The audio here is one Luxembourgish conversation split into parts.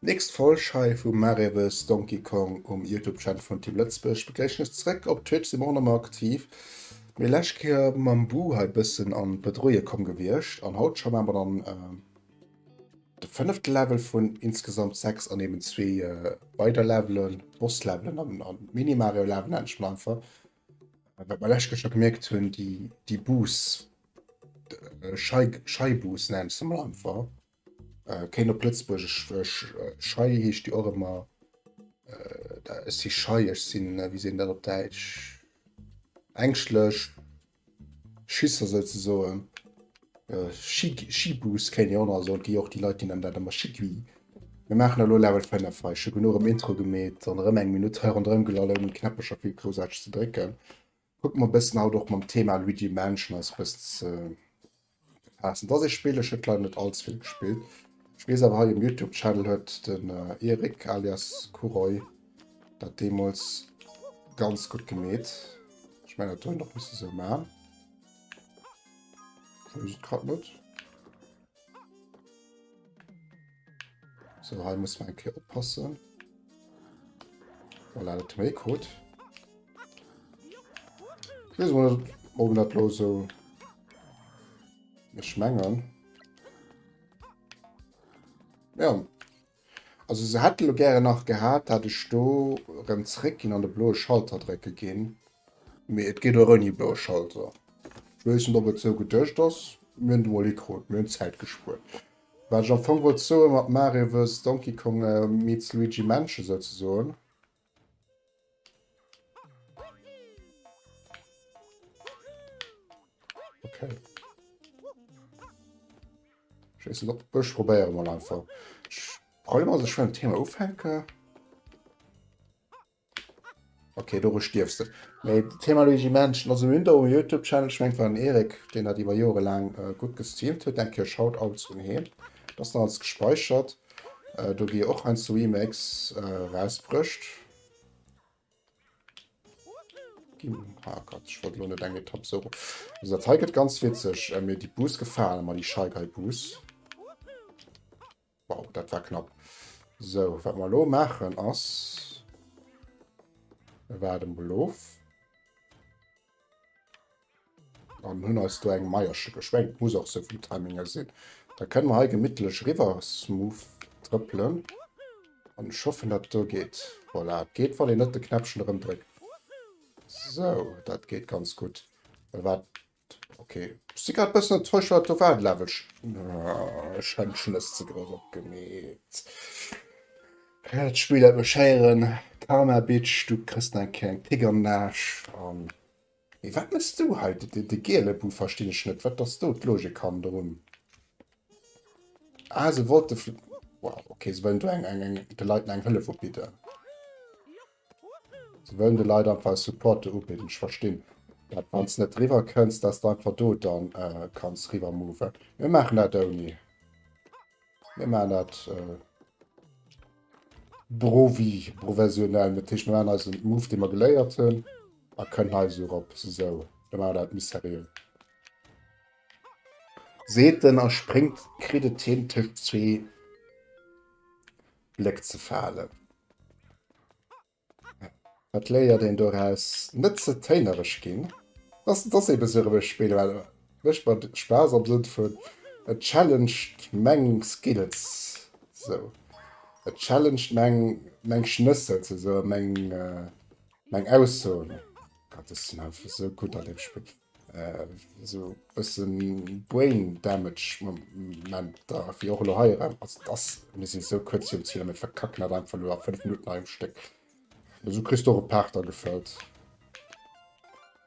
Nächst Folg hei vu Mareves Donkey Kong um Youtube Channel vun Team Lëtzebuerg begréissen ech zréck. Op Twitch si mer och nach mol aktiv, mee lescht Kéier mam Buh hei bëssen an d'Bredouille komm gewiescht an haut schaffen mer dann. De fënnefte Level vun insgesamt 6 an eben zwee äh, weider Levelen, Boss-Levelen an, an Mini-Mario-Levelen endlech mal einfach. Wat mer läscht schon gemerkt hunn, die, die Boosts, äh, Schei, Scheiboosts nennen se mal einfach. Äh, kéint op Lëtzbuergesch äh, äh, Schei heescht die och immer. Äh, da, ech si schei, ech sinn, äh, wie sinn dat op Däitsch? Ängschtlech, Schisser souzesoen. Schibus kéint een och nach soen, et gi och déi Leit déi nennen dat ëmmer Schigui. Mir maachen elo Level 5 hei. Ech hu genuch um Intro gemeet an erëm eng Minutt hei ronderëm gelall ouni Knäppercher vill Groussaarteges ze drécken. Kucke mer e bëssen haut och mam Thema Luigi Mansion eis e bëssen ze. Passend ass ee Spill, ech huet leider net als vill gespillt. Ech wees awer hei um Youtube Channel huet den äh, Erik alias Kuroi dat deemols ganz gut gemeet. Ech mein dat noch muss so ma. Grad net. So, hei muss man eng Kéier oppassen. Voilà, dat hu mir gekrut. Ich weiß mal, ob das bloß so... Ich mengen... Ja. Also sie hätten gerne nach gehabt, dass ich da rem zurückgehen an den blauen Schalter drücken gehen. Aber es geht auch ohne blauen Schalter. Ich weiß nicht, ob es so gedacht ist. Wir haben mal gekrut, wir haben Zeit gespart. Wat ech am Fong wollt soen mat Mario vs Donkey Kong meets Luigi Mansion souzesoen. Okay. Ich weiß nicht, ob ich probiere mal einfach. Ich probiere mal, dass ich schon ein Thema aufhänge. Okay, doru stierfs de. Mee d'Thema Luigi Mansion, also mir hunn do e Youtube Channel, ech mengen et war den Eric deen dat iwwer Joere laang gutt gestreamt huet, eng Kéier Shoutouts un heen, et ass nach alles gespäichert, do gi och heiansdo Remakes erausbruecht. Ah Gott, ech wollt elo net eng Etapp esou ro. Also dat hei gëtt ganz witzeg, mee déi Bus gefalen mer, déi Shy Guy Bus. Wow, dat war knapp. So, wat mer lo maachen ass, mir waarden mol of an hunn eis do eng Meiersche geschwenkt. Muss och sou vum Timing her sinn. Da kënne mer hei gemittlech riwwer smooth trëppelen. An ech hoffen, dat do geet. Voilà, et geet, wann een net de Knäppchen erëmdréckt. So, dat geet ganz gutt. Wat Okay. Ech si grad bëssen enttäuscht, wat do war. De Level schéngt schonn dës ze grouss opgemeet. Dat Spill dat mech héieren, Karma Bitch, du kriss deng kleng Pick am Naasch an. Mee wat mëss du hei? De giele Bou verstinn ech net. Wat ass do d'Logik hannerun? Ah, se wollte. Wow, okay, se wëllen do de Leit eng Hëllef ubidden. Sie wëllen de Leit einfach e Support do ubidden. Ech verstinn dat, wann s net riwwer kënns, dass de einfach do dann kanns riwwer moven. Mir maachen dat ouni. Mir maachen dat brovi, professionell. Dat heescht, mir maachen eisen Move, dee mer geléiert hunn, a kënnen hei esou erop. Esou, da maache mer dat méi seriö. Seet en a spréngt, kritt et hin tëscht zwee Bléck ze falen. Wat léiert een doraus? Net ze téinereg ginn. Dass dass eben esou erëm e Spill well mécht mer Spaass am Sënn vun et challenged meng Skills sou. Et challenged meng meng Schnëssel ze soen, meng meng Aussoen. Gott ech sinn einfach esou gutt an deem Spill. Esou e bësse brain damage Momenter, wéi och elo hei erëm. Also et ass, mir si sou kuerz virum Zil a mir verkacken dat einfach elo a 5 Minutten hei um Stéck. Mä esou kriss de och e Paart da gefëllt.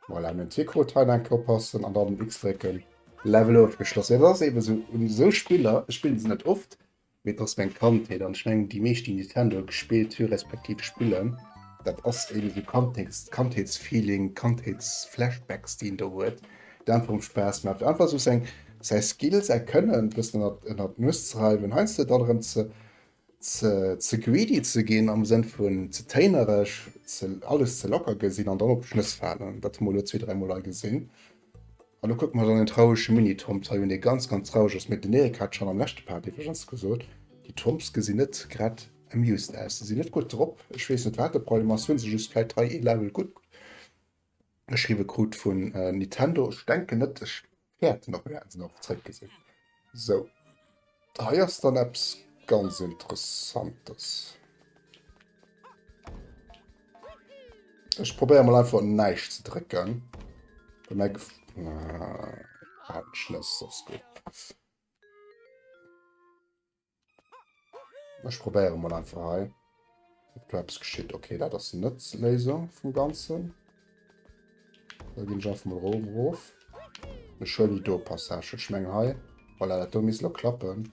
Voilà, mir hunn d'Wierkrot hei nach eng Kéier oppassen an dann den X drécken. Level ofgeschloss. Et ass eeben esou, un esou Spiller, ech spillen se net oft, Mir passt meng Kandheet an ech mengen déi meescht déi Nintendo gespillt hu respektiv spillen. Dat ass eben esou Kandheets Kandheetsfeeling, Kandheetsflashbacks déi een do huet, déi einfach erem Spaass maachen einfach esou seng säi Skill, säi Kënnen e bëssen ënnert ënnert d'Nues ze reiwen, heiansdo dann erëm ze ze ze greedy ze ginn am Sënn vun ze téinereg, ze alles ze locker gesinn an dann op d'Schnëss falen. Dat hu mer elo zwee dräimol hei gesinn An do kucke mer dann en traurege Mini-Thomps hei un, dee ganz, ganz traureg ass. Mee den Eric hat schonn am leschte Part iwwregens gesot, déi Thomps gesinn net grad amused aus. Si sinn net gutt drop. Ech weess net, wat de Problem ass. Hu se just vläicht hei ee Level gutt geschriwwe krut vun Nintendo? Ech denken net. Ech wäerten och wäertensdorf zréckgesinn. Sou, hei ass dann eppes ganz Interessantes. Ech probéiere mal einfach näischt ze drécken. Bemerk... Ah, Schlëss, ass gut. Ech probéiere mol einfach hei. Ob do eppes geschitt. Okay, dat ass net d'Léisung vum Ganzen. Da ginn ech einfach mal Rom rof. Ech huelen déi do Passage. Ech mengen hei. Voilà, dat do misst lo klappen.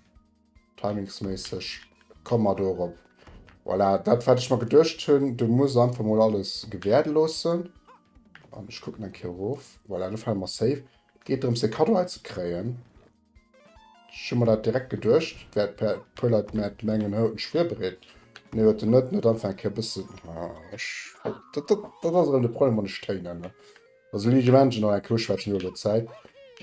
Timingsméisseg. Komme mer do erop. Voilà, dat wat ech mer geduecht hunn. Du muss einfach mol alles gewäerde loossen. An ech kucken eng Kéier erof. Voilà, do fale mer safe. Geet drëms, de Kaddo hei ze kréien. Ech hu mer dat direkt geduecht, et wäert e puer Leit mäert mengen hou en schwier bereet, mee huet en net, net anfänke e bëssen ech dat dat dat ass erëm de Problem wann ech Téin ännere bei esou ligen Menschen nach eng Kéier uschwätzen iwwer der Zäit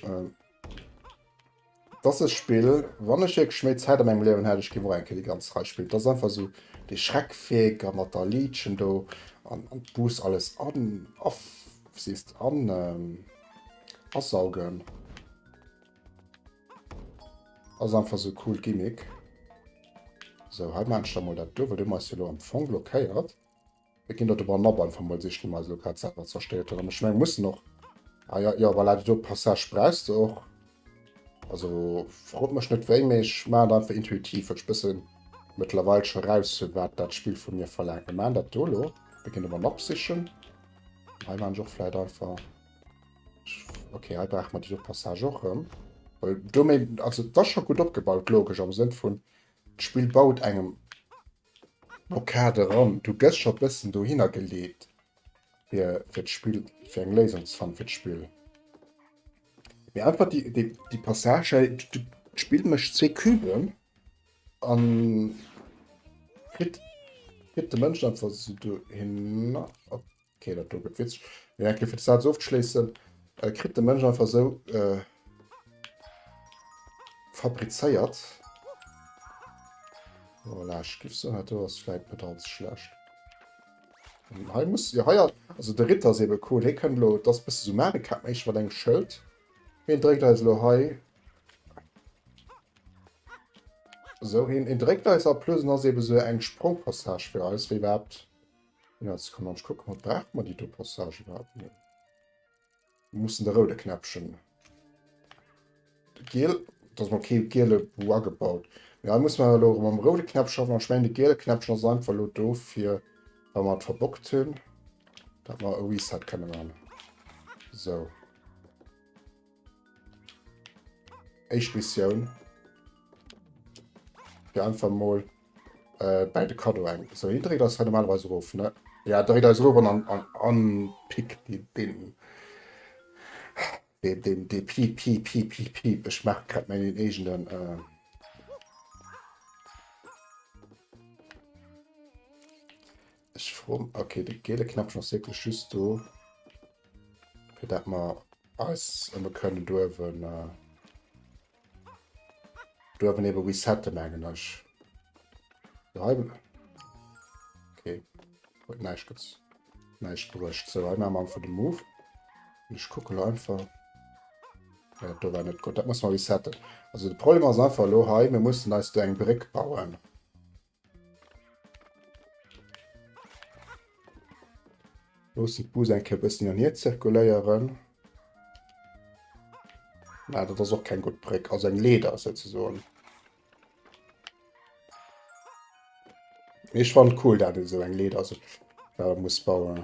et ass e Spill wann ech wierklech méi Zäit an mengem Liewen hätt ech géif och eng Kéier déi ganz Rei spillen et ass einfach esou dee Schreck weg a mat der Liedchen do an an d'Bus alles an a siehst an. Asaugen ass einfach so cool Gimmick. So hei mensch da mal dat do, well du meist lo am Fong blockéiert. Wir ginn dort aber nab einfach mal sich mal so grad selber zerstört oder mech meng muss noch. Ah ja, ja, voilà, do Passage brauchst du och. Also frot mech net wéi, mee ech maan et einfach intuitiv, well ech bëssen mëttlerweil scho raus hunn wat dat Spill vu mir verlaangt. Mir maan dat do lo, mir ginn de Mann opsichen. Hei maan ech och vläit einfach. Ok, hei brauch mer déi Passage och rëm. Well do méi, also dat ass scho gutt opgebaut, logesch am Sënn vun d'Spill baut engem No Kader ran. Du gëss scho bëssen dohinner geleet fir fir d'Spill fir eng Léisung ze fannen fir d'Spill. Mee einfach déi déi déi Passage hei. D'Spill mécht zwee Küben a kritt kritt de Mënsch einfach esou dohinner. Okay, dat do gëtt witzeg. Mee eng Kéier fir de Saz ofzeschléissen, äh, kritt de Mënsch einfach esou äh, fabrizéiert. Voilà, ech giff soen, dat do ass vläit net allze schlecht. Ähm, hei muss, ja, hei, also de Ritter ass ebe cool. Hee kënnt lo, dat ass e bësse so Mario Kart méich mat engem Schëld. Heen dréckt eis lo hei So, en, en dréckt eis a plus ass eben so eng Sprongpassage fir eis, wéi überhaupt Jetzt kann man gucken, ob braucht man die Passage überhaupt nicht. Wir müssen den roten Knäppchen. Den Gel, dass man kein gelbe Bu angebaut. Ja, muss man aber am roten Knäppchen schaffen. Und ich meine, den gelben Knäppchen ist einfach nur da, für, wenn man es verbockt haben, dass man ein Reset können machen. So. Eich Missioun. Fir einfach mal äh, bei de Kado eng. So, hier dreht das normalerweise ruf, ne? Ja, dreht das ruf an, an, an Pick, die, den, den, den, den Piep, Piep, Piep, Piep, Piep. Ich mach grad meinen eigenen, äh, Ech froen, ok de geele Knäppchen ass wierklech just do fir dat mer eis ëmme kënnen duerwen duerwen ebe resette mengen ech. Okay. Huet näischt gez näischt bruecht. Sou hei mam vu de Move. Ech kucke lo einfach. Ja, do war net gutt. Dat muss mer resetten. Also de Problem ass einfach lo hei, mir mussen eis do eng Bréck bauen. Loosse d'Bus eng Kéier e bëssen an hier zirkuléieren. Mä dat ass och keng gutt Bréck, also eng Leeder souzesoen. Mee ech fannen et cool, dat een esou eng Leeder sech selwer muss bauen.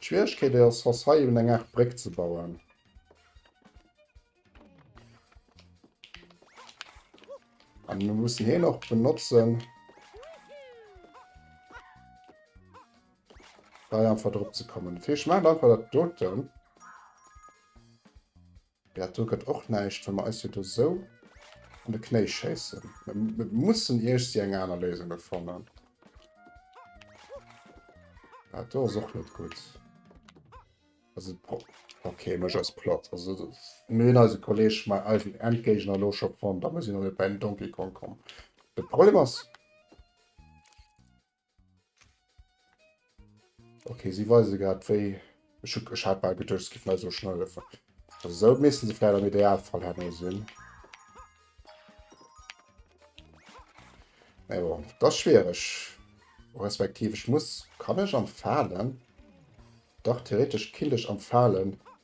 D'Schwieregkeet déi ass ass hei eben eng Aart Bréck ze bauen. An mir mussen heen och benotzen. Bei einfach drop ze kommen. Fir ich mein einfach dat doten. Ja, do gëtt och näischt, wa mer eis jo do sou an de Knéi schéissen. Mer mussen iergsi eng aner Léisung do fannen. Dat do ass och net gutt. Also, okay, mech ass platt. Also, mir hunn eise Kolleg mei eisen Endgéigner elo scho fonnt, da muss een erëm bei den Donkey Kong kommen. De Problem ass. Okay, sie weisen gerade wéi. Ich, ich habe mal gedacht, es gibt mal so schnell. Also so müssen sie vielleicht am Idealfall haben sehen. Ja, bon, das ist schwierig. Respektiv, ich muss, kann ich am Fallen? Doch, theoretisch kann ich am Fallen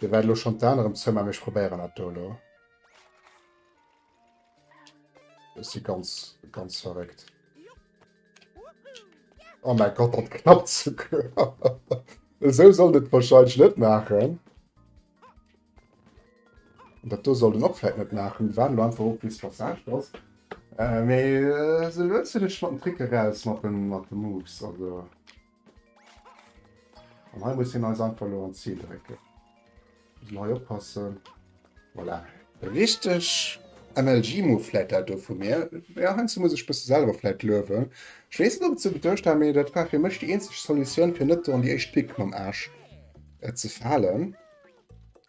Mir waren elo schonn d'Aner am Zëmmer, mee ech probéieren dat do elo. Ech si ganz, ganz verréckt. Oh mäi Gott, dat knappt souguer. Esou sollt et warscheinlech net maachen. Dat do sollt en och vläit net maachen. Waarden elo einfach of, bis d'Passage ass. Mee elo hues du dech mat dem Trick eraus, mat de Moves, also. An hei muss hien eis einfach lo an d'Zil drécken. Mussen hei oppassen. Voilà. Richteg MLG-Move vläit dat do vu mir. Jo, heiansdo muss ech bësse selwer vläit luewen. Ech weess net, ob et sou geduecht war, mee dat war fir mech déi eenzeg Solutioun, fir net do an déi éischt Pick mam Aarsch ze falen.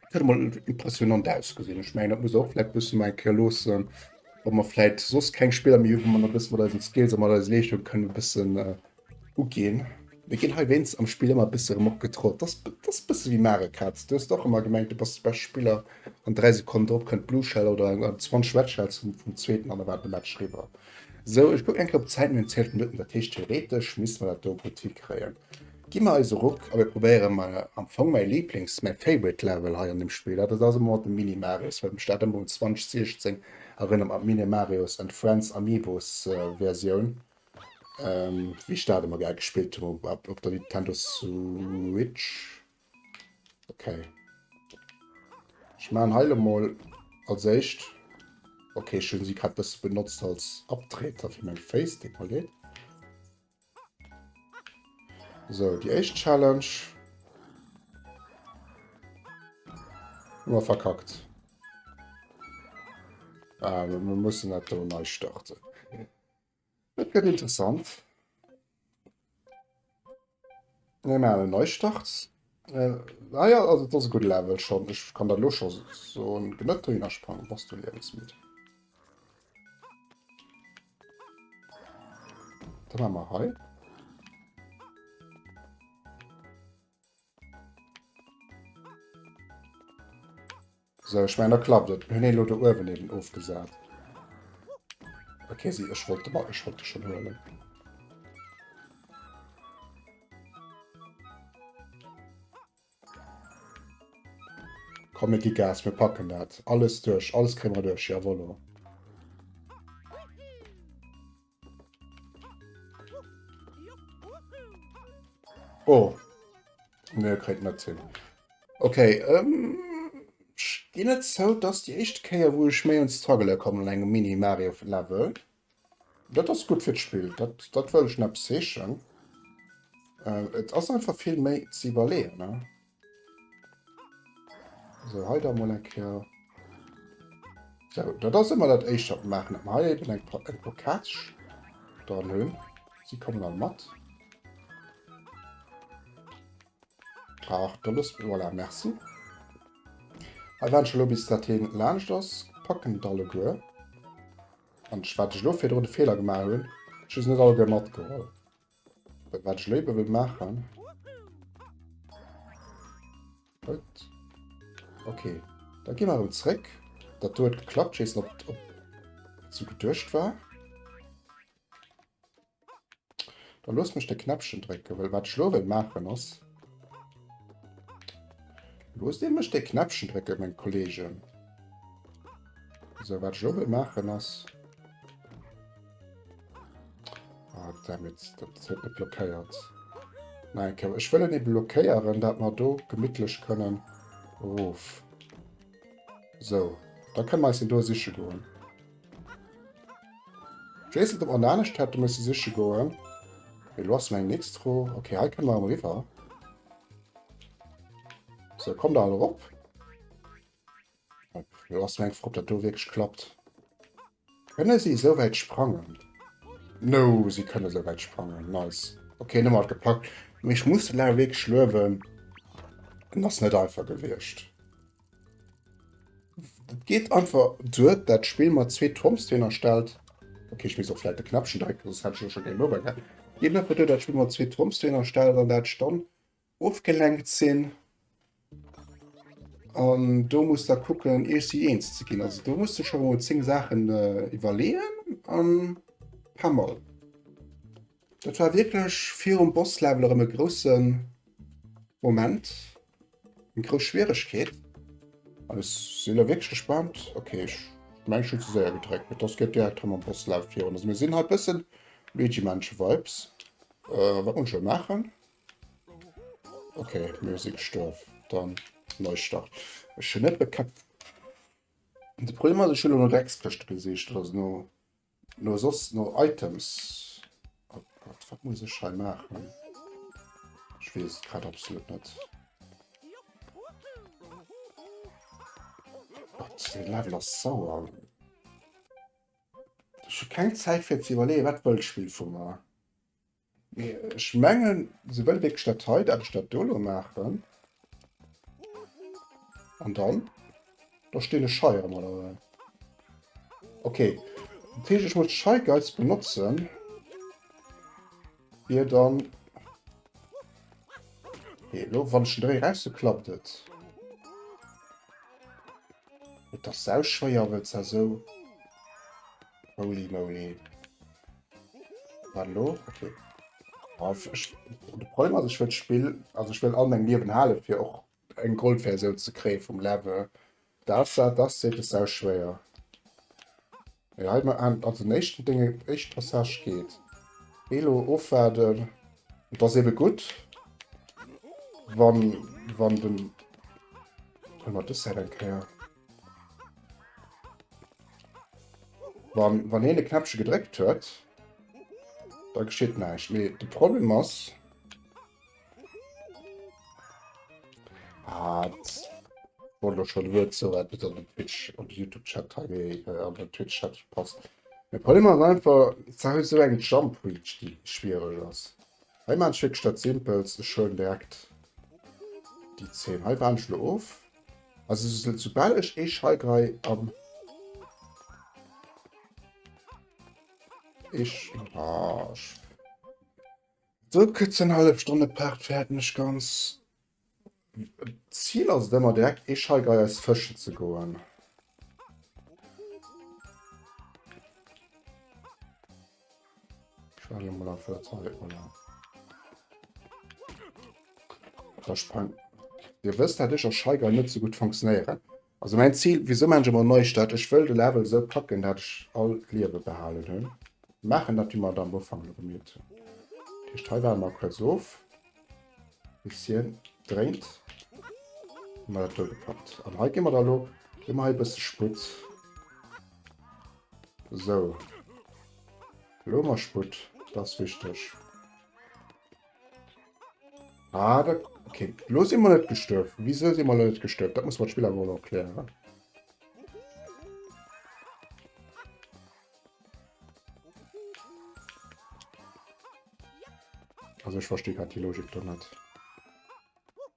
Dat huet emol impressionant ausgesinn. Ech mengen, dat muss och vläit bësse mei Kéier loossen, wa mer vläit soss keng Spiller méi hu, wou mer e bësse mat eisen Skills a mat eiser Leeschtung kënnen e bëssen Uginn. Mir ginn hei wéinst am Spill ëmmer e bësse erëm opgetrollt. Dat ass e bësse wéi Mario Kart. Du hues och ëmmer gemengt, du bass de beschte Spiller an dräi Sekonnen drop kënnt d'Blue Shell oder eng 20 Red Shells vum Zweeten an da war de Match eriwwer. Sou, ech kucken eng Kéier op d'Zäit, mir hunn 12 Minutten, dat heescht theoretesch misste mer dat do gutt hikréien. Gi mer eis e Ruck a mir probéiere mol am Fong mäi Liiblings-, mäi Favorite Level hei an deem Spill, dat ass ëmmer nach de Mini-Marius, well ech mech dat ëmmer un 2016 erënnert mam Mini-Marius and Friends Amiibos Versioun. Ähm, wéi ech dat ëmmer gär gespillt hu op, op der Nintendo Switch. Okay. Ich maan heile mol als éischt. Okay, schön sie grad bis benutzt als Abtreter für mein Face Dekolleet. So, die echt Challenge. Immer verkackt. Ah, wir müssen nicht neu starten. Et gëtt interessant. Mir maachen en Neistart. Äh, ah ja, also das ist ein guter Level schon. Ich kann da los schon so ein Genötter hinsprangen, was du lebens mit. Dann haben wir hei. So, ich mein, da klappt et. Mir hunn een elo do uewen eben ofgesat. Okay, si, ech wollt de Ball, ech wollt de schon huelen. Komm, mir gi Gas, mir packen dat. Alles duerch, alles kréie mer duerch, jawollo. Oh. Ne, kréit net hin. Okay, ähm, ich ginn net zou, dass die éischte Kéier, wou ech méi un Struggele kommen an engem Mini-Mario-Level. Dat ass gutt fir d'Spill, dat, dat wëll ech neppes heeschen. Äh, et ass einfach vill méi ze iwwerleeën, ne? So, hei da mol eng Kéier. So, dat ass ëmmer dat éischt, wat maachen, dat hei eben eng Pokatsch dran hunn. Si kommen all mat. Ach, da loosse mir voilà, merci. Hei waren schon lo bis dat heen laanscht ass, packen et alleguer. An wat ech lo virdrun de Feeler gemaach hunn, ech hu se net alleguer matgeholl. Wat ech léiwer wëll maachen. Gut. Okay. Da gi mer erëm zréck. Dat do huet geklappt, ich weess net ob ob dat sou geduecht war. Da loosst mech de Knäppchen drécken, well wat ech lo wëll maachen ass. Loosst Dir mech de Knäppchen drécken, meng Kolleegen. Sou, wat ech lo wëll maachen ass. Ah, damit, das huet net blockéiert. Nein, okay. ich will eben blockéieren, dass wir do gemütlich können ruf. So, da können wir uns do sicher gehen. Ich weiß nicht, ob wir da nicht hätten müssen sicher gehen. Wir lassen ein Nixtro. Okay, hier können wir am River. So, komm da alle rauf. Op lass meng froh op dat do wierklech klappt. Kënne si esou wäit sprangen? No, si kënne esou wäit sprangen. Nice. Okay, nëmmer alt gepackt. Mee ech muss de Larry wierklech luewen. En ass net einfach gewiescht. Et geet einfach duer, dat Spill mat zwee Tombstoner stellt. Okay, ech misst och vläit de Knäppchen drécken, soss hätt ech elo scho Game Over gehat. Et geet einfach duer, dat Spill mat zwee Tombstoner stellt an dat Stonn ofgelenkt sinn an do muss da kucken Iech si eens ze ginn. Also do muss de scho mol 10 Saachen iwwerleeën an paar Mall. Dat war wierklech virum Bosslevel erëm e grousse Moment, eng grouss Schwieregkeet. An ech sinn elo wierklech gespannt. Okay, ech mengen ech hunn ze séier gedréckt, mee dass geet direkt rëm am Bosslevel virun. Also mir sinn hei e bëssen Luigi Mansion-Vibes, wat muss ech elo maachen? Okay, Musik stof dann Neustart. Ech hun net bekäpft. De Problem ass, ech hunn elo dacks Këschte gesicht oder no no soss no Items. Oh Gott, wat muss ech hei maachen? Ech weess et grad absolut net. Gott, de Level ass sauer. Ech hu keng Zäit fir ze iwwerleeën, wat wëll d'Spill vu mer. Mee ech mengen, se wëlle wierklech dat hei, dat ech dat do elo maachen. An dann? Da stinn ech heirëm, oder wéi? Okay. Dat heescht, ech muss Shy Guys benotzen, fir dann... Hee, elo wann ech den Dréi erauszu, klappt et. Et ass sauschwéier, wëlls da sou... Holy moly. Hallo, okay. Also, ich, de Problem ass ech wëll Spill also ich wëll all meng Liewen hale fir och eng Goldversioun ze kréie vum Level. Das das seet es sau schwéier. Ja, halt mal an also den éischten Dinge éischt Passage geht. Elo ofwaarden. Et ass ebe gutt wann wann den. Hol mal dës Säit eng Kéier. Wann, wann heen de Knäppche gedréckt huet, da geschitt näischt. Mee de Problem ass... Ah, wollt lo schon Wuert soen, wat net an den Twitch, an den YouTube-Chat hei, mee äh, an den Twitch-Chat passt. De Problem ass einfach, s du hues esou eng Jump Reach, déi schwiereg ass. Hei maan ech wierklech dat Simpelst, ech huelen direkt déi 10. Hei waarden ech lo of. Also soubal ech ee Scheigerai am do gëtt se eng hallef Stonn e Part fäerten ech ganz. D'Zil ass et ëmmer direkt ee Scheigerai eis fëschen ze goen. Schwelle mal auf der Zeit, oder? Da sprengt. Ihr wisst, dass ich als Scheiger nicht so gut funktionieren. Also mein Ziel, wieso man schon mal neu statt, ich will den Level so packen, dass ich all Leben behalten habe. Machen das wie man am Anfang damit. Ich teile da mal kurz auf. Bisschen dreht. Mal das gepackt. Und heute gehen wir da lo. Immer ein bisschen Sprit. Sou. Lo hu mer Sputt. Dat ass wichteg. Ah, dat, okay. Lo si mer net gestuerf. Wisou si mer lo net gestuerf? Dat muss mer d'Spill awer mol erklären. Also, ech versti grad déi Logik do net.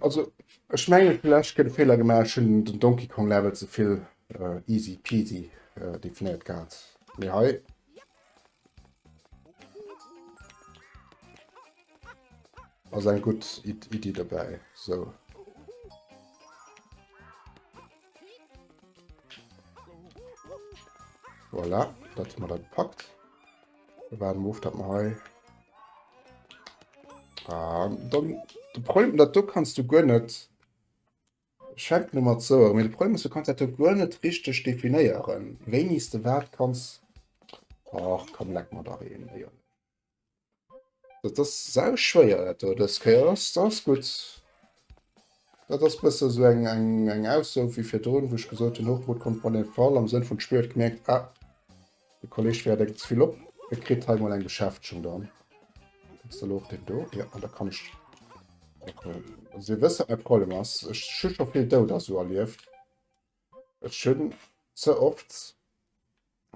Also ech mengen villächt gëtt e Feeler gemaach, ech hunn den Donkey Kong Level ze vill äh, easy peasy äh, definéiert gehat. Mee hei ass eng gutt Iddi dobäi. So. Voilà, dat mat dat packt. war den Move, dat mer hei... Ah, dann, de Problem, dat do kannst du guer net... Schenk no mat so, mee de Problem ass, du kannst dat do guer net richteg definéieren, wéinis de wat kanns... Och, komm, leck mer dach een, Dat ass sau schwéier dat do dës Kéier. Ass ass gutt. Dat ass bësse sou eng eng eng Ausso wéi virdrun, wou ech gesot hunn, Hochmut kommt bei den Fall, am Sënn vun d'Spill huet gemierkt, ah de Kolleg fäert eng ze vill op, e kritt hei mol eng Beschäftegung dann. Ass da lo och deen do? Jo, an da kann ech. Also Dir wësst wat mäi Problem ass, ech hu scho vill Doud a sou erlieft. Ech hunn ze oft.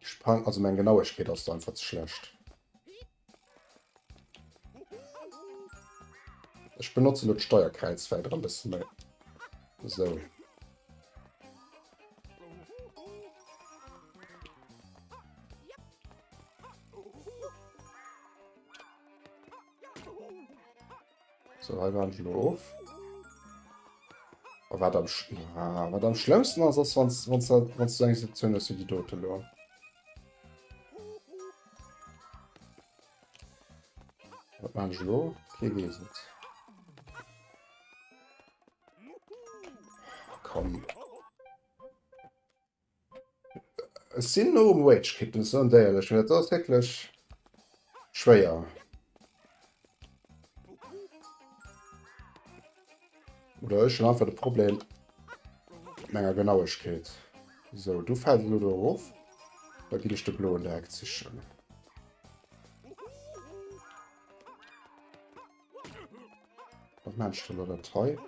Sprang, also meng Genauegkeet ass do einfach ze schlecht. Ech benotze lo d'Steierkräiz wäit ra bësse méi. Esou. So, hei waren schon of. Oh, wat am, Sch ah, wat am schlimmsten ass, ass, wann wann du eng Sektion ass, wie die dote lo. Wat man lo? Kee wees et. Komm. Ech sinn no um Rage Quitten, ech soen d'éierlech, mee dat ass wierklech schwéier. Oder ech hunn einfach de Problem menger Genauegkeet. Sou, du fält elo do erof, da ginn ech de Bloen direkt sichen. Was meinst du da das hei?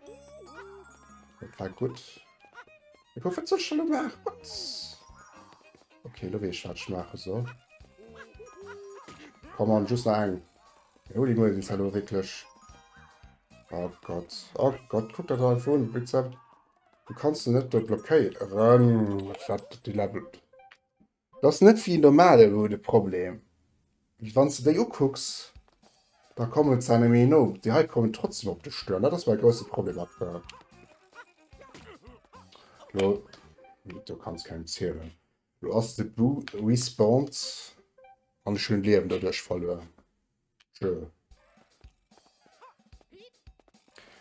Das war gut. Ich hoffe, das schon gemacht. Was? Okay, du weißt, was ich machen soll. Komm on, just nach einen. Jo, die mögen es hallo wirklich. Oh Gott. Oh Gott, guck dir das einfach an. Wie gesagt, du kannst ihn nicht dort blockieren. Was hat die Level? Dat ass net wéi en normalen Hut e Problem, mee wann s de déi ukucks, da kommen se engem méi no. Déi hei kommen trotzdem op de Stuerm, dat ass mäi grousse Problem aktuell. Lo, do kanns kengem zielen. Lo ass de Bou respawned an ech hunn Liewen doduerch verluer.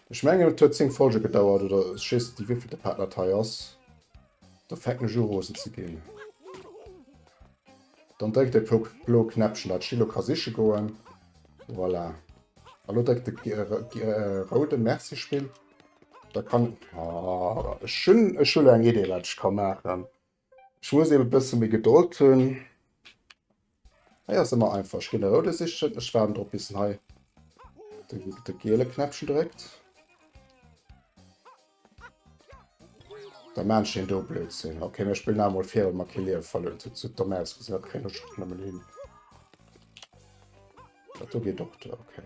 Ech menge et huet 10 Folge gedauert oder just déi wieviel de Partner hei ass. Da fänken ech u rosen ze ginn. Dann dréckt de blo Knäppchen, dat Chilo ka siche goen. Voilà. A lo dréckt de äh, roude Merci Spill. Da kann... Oh, ech hunn ech hunn eng Idee wat ech ka maachen. Ech muss eben e bësse méi Gedold hunn. Hei ass ëmmer einfach. Ech ginn de Roude sichen. Ech waarden drop, bis en hei de giele Knäppchen dréckt. Da maan ech een do Blödsinn. Okay, mir spillen awer mol vir, well mer kee Liewe verluer hunn. Dat sieht domm aus, gesinn. Dat kréien ech och nëmmen hin. Dat do geet och duer. Okay.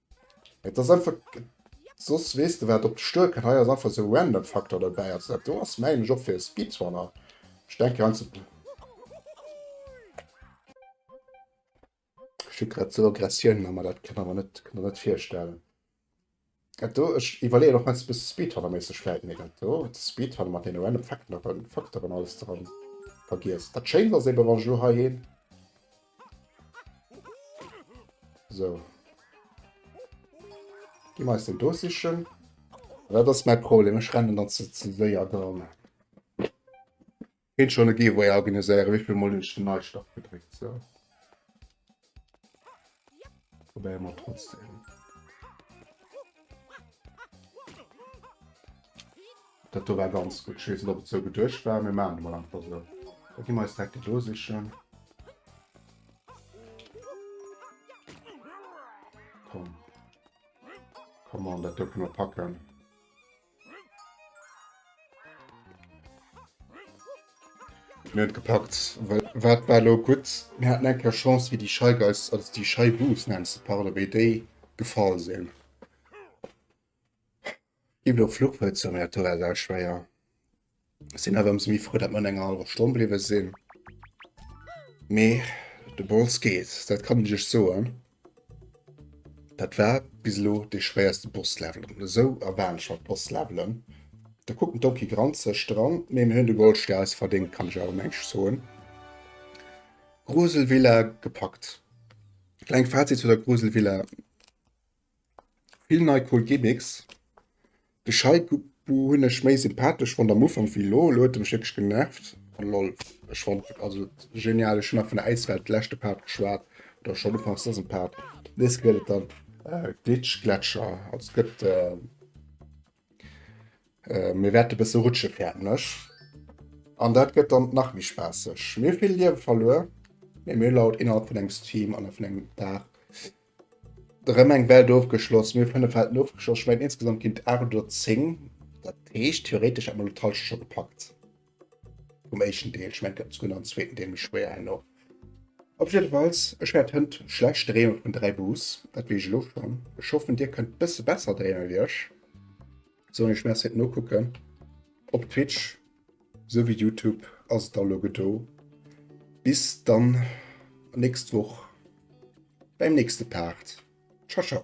Et ass einfach, soss weess de wat op dech duerkënnt. Hei ass einfach esou e random Faktor dobäi. Also dat do ass mengen ech och fir e Speedrunner. Ech denken einfach. Ech kritt grad esou Aggressiounen a mer, dat kann der mer net, kann der net virstellen. Dat do, ech iwwerleeën och meinst e bësse Speedrunner-méisseg vläit. Mee dat do, de Speedrunner mat deene random Fakten a Faktoren alles dran, vergiess. Dat Schéint ass eben, wann ech elo heiheen. So. Gi me eis den do sichen. Dat ass mein Problem ech rennen dann ze ze séier dran. Hin schon e Giveaway organiséieren, wéivill Mol hunn ech den Neistart gedréckt. So. Probéiere mer trotzdem. Dat do war ganz gutt. Ech weess net, ob et sou geduecht war, mee maachen et emol einfach sou. Da gi mer eis d'Hecke do sichen. Komm. Come on, dat do kënne mer packen. Mir hunn et gepackt. Well wat war lo gutt? Mir haten eng Kéier Chance, wéi déi Scheigeis, also déi Scheibus nennen ze parle, wéi déi gefall sinn. Ginn elo Fluchwëlzer méi aktuell da schwéier. Sinn awer ëmsou méi frou, dat mer an enger hallwer Stonn bliwwe sinn. Mee de Bols geet, dat kann ech iech soen. Dat war bis elo dee schwéierste Bosslevel. An esou erwaarden ech mer d'Bosslevelen. Da kuckt den Donkey granzeg dran, mee mir hunn de Goldstär eis verdéngt, kann ech awer mengs soen. Gruselvilla gepackt. Klengt Fazit zu der Gruselvilla, Vill nei cool Gimmicks. De Scheiku hunn ech méi sympathesch fonnt am Ufank wéi elo. Elo huet e mech wierklech genervt. Lol, ech fonnt also genial. Ech hunn nach vun der Äiswelt leschte Part geschwat, oder schonn ufanks dësem Part. Nees gëtt et dann Glitch Gletscher, also et gëtt mir wäerte e bësse rutsche fäerten ech an dat gëtt dann nach méi spaasseg. Mir hu vill Liewe verluer, mee mir hu elo innerhalb vun engem Stream an vun engem Dag Rem eng Welt ofgeschloss, mir 5 Welten ofgeschloss, schmengen insgesamt gin et 8 oder 10, dat heescht theoretisch hätten mer lo d'Halscht scho gepackt vum éischten Deel, schmengen et gët souguer nach en zweeten Deel, méi schwéier herno. Op jiddefalls, ech wärt hënt schlecht dreeme vun 3 Bus, dat wees ech elo schon, ech hoffen dir kënnt bësse besser dreeme wéi ech. Soen ech merci d'nokucken. Op Twitch sou wéi Youtube ass et da lo gedo. Bis dann nächst Woch beim nächste Part. Ciao ciao.